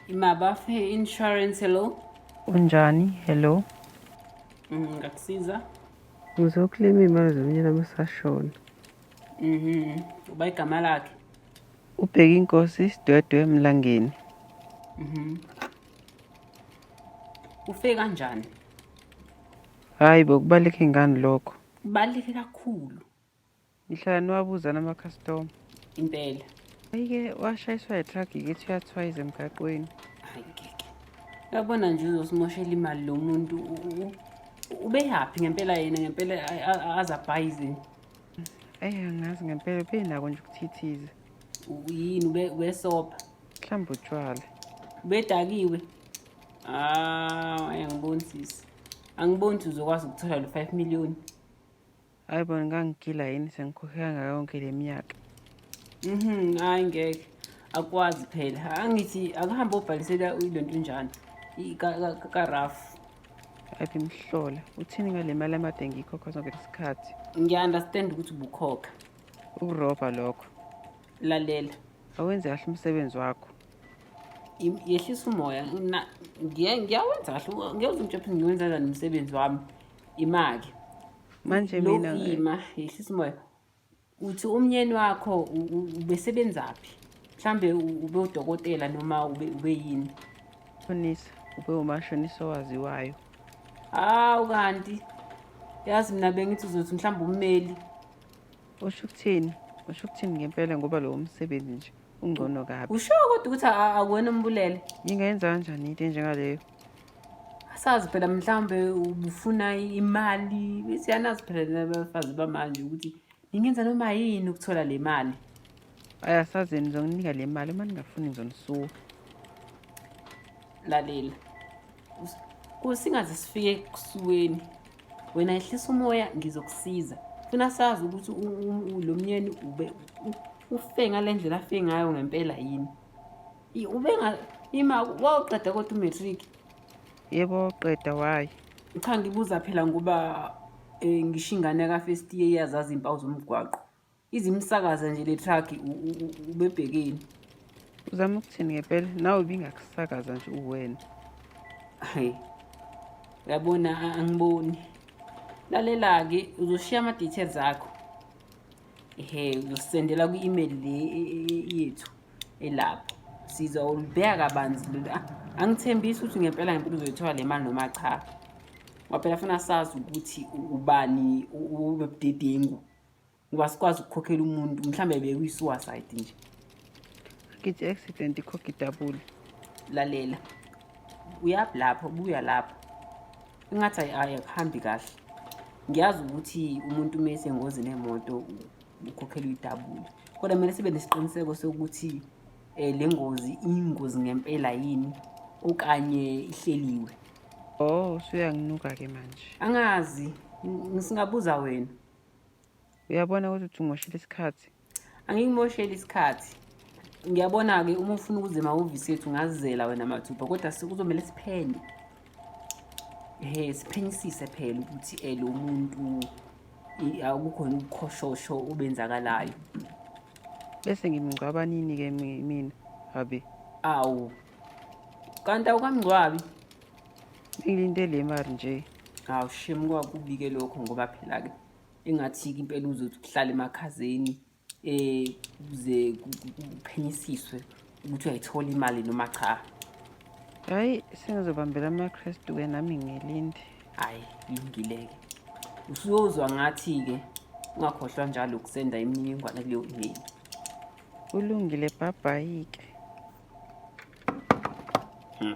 Imabafe Insurance, hello. Unjani? Hello. Mm, ngakusiza. Ngizokulima imali zomnyana amasashona. Mhm. Uba igama lakhe. Ubheka inkosi sidwedwe emlangeni. Mhm. Ufike kanjani? Hayi bokubaleka ingani lokho. Kubaluleke kakhulu. Ngihlala niwabuza namakhastoma. Impela. Ayike washayiswa yitruck ngithi uyathwayiza emgaqweni. Hayi ngeke. Uyabona nje uzosimoshela imali lo muntu. Ubeyaphi ngempela yena ngempela azabhayizini. Eyi angazi ngempela ubenako nje ukuthithiza. Yini ube wesopa. Mhlawumbe utshwala. Ubedakiwe. Ah, ayangiboni sisi. angiboni ukuthi uzokwazi ukuthola lo 5 million hayi bona ngangigila yini sengikhokhe kanga yonke le minyaka mhm hayi ngeke akwazi phela angithi akuhambe obhalisela le nto njani karafu aphi mhlola uthini ngale mali amade ngiyikhokha sonke lesikhathi ngiya-understand ukuthi ubukhokha ukurobha lokho lalela awenze kahle umsebenzi wakho yehlisa umoya ngiyawenza kahle ngiyoze umtshephe ngiwenza njani umsebenzi wami imake manje mina ima yehlisa umoya uthi umnyeni wakho ubesebenzaphi mhlambe ube udokotela noma ube ube yini shonisa ube umashonisa owaziwayo hawu kanti yazi mina bengithi uzothi mhlawumbe ummeli usho ukuthini usho ukuthini ngempela ngoba lowo msebenzi nje ungcono kabi usho kodwa ukuthi akuwena umbulele ngingayenza kanjani into enjengaleyo asazi phela mhlawumbe ubufuna imali siyanazi phela nabafazi bamanje ukuthi ningenza noma yini ukuthola le mali ayasazi yena ngizonginika le mali uma ningafuni ngizonisuka lalela singaze sifike ekusuweni wena ehlisa umoya ngizokusiza funa sazi ukuthi lo myeni ube ufe ngale ndlela afe ngayo ngempela yini ube ima wawuqeda kodwa umatric yebo wawuqeda wayi cha ngibuza phela ngoba um ngisho ingane ka-first year iyazazi iy'mpawu zomgwaqo izimsakaza nje le truck ubebhekeni uzama ukuthini ngempela nawe ubingakusakaza nje uwena hayi uyabona angiboni lalela-ke uzoshiya ama-details akho ehe uzosendela kwi-email le e, e, e, yethu elapho siza ulibheka kabanzi lolu ah, angithembisi ukuthi ngempela ngempela uzoyithola le mali noma cha waphela funa sazi ukuthi ubani ubebudedengu ngoba sikwazi ukukhokhela umuntu mhlawumbe bekuyi-suicide nje ngithi accident ikhokha idabule lalela uyaphi lapho buya lapho ingathi ayikuhambi kahle ngiyazi ukuthi umuntu uma esengozini emoto ukhokhela uyidabule kodwa kumele sibe nesiqiniseko sokuthi um le ngozi iyingozi ngempela yini okanye ihleliwe oh usuyanginuka-ke manje angazi ngisingabuza wena uyabona ukuthi uthi ungoshela isikhathi angikumosheli isikhathi ngiyabona-ke uma ufuna ukuze emahhovisi ethu ngazizela wena mathupha kodwa kuzomele siphele um siphenyisise phela ukuthi um lo muntu akukhona ukukhoshosho obenzakalayo bese ngimngcwaba nini-ke mina abi awu kanti awukamngcwabi Ngilinde le mari nje. Hawu shem kwakubi-ke lokho ngoba phela-ke engathi-ke impela uzothi uhlale emakhazeni um kuze kuphenyisiswe ukuthi uyayithola imali noma cha hhayi sengizobambela amakrestu-ke nami ngilinde hhayi kulungile-ke usuyozwa ngathi-ke ungakhohlwa njalo ukusenda imininingwane kuleyo imeli kulungile bhabhayi-ke hmm.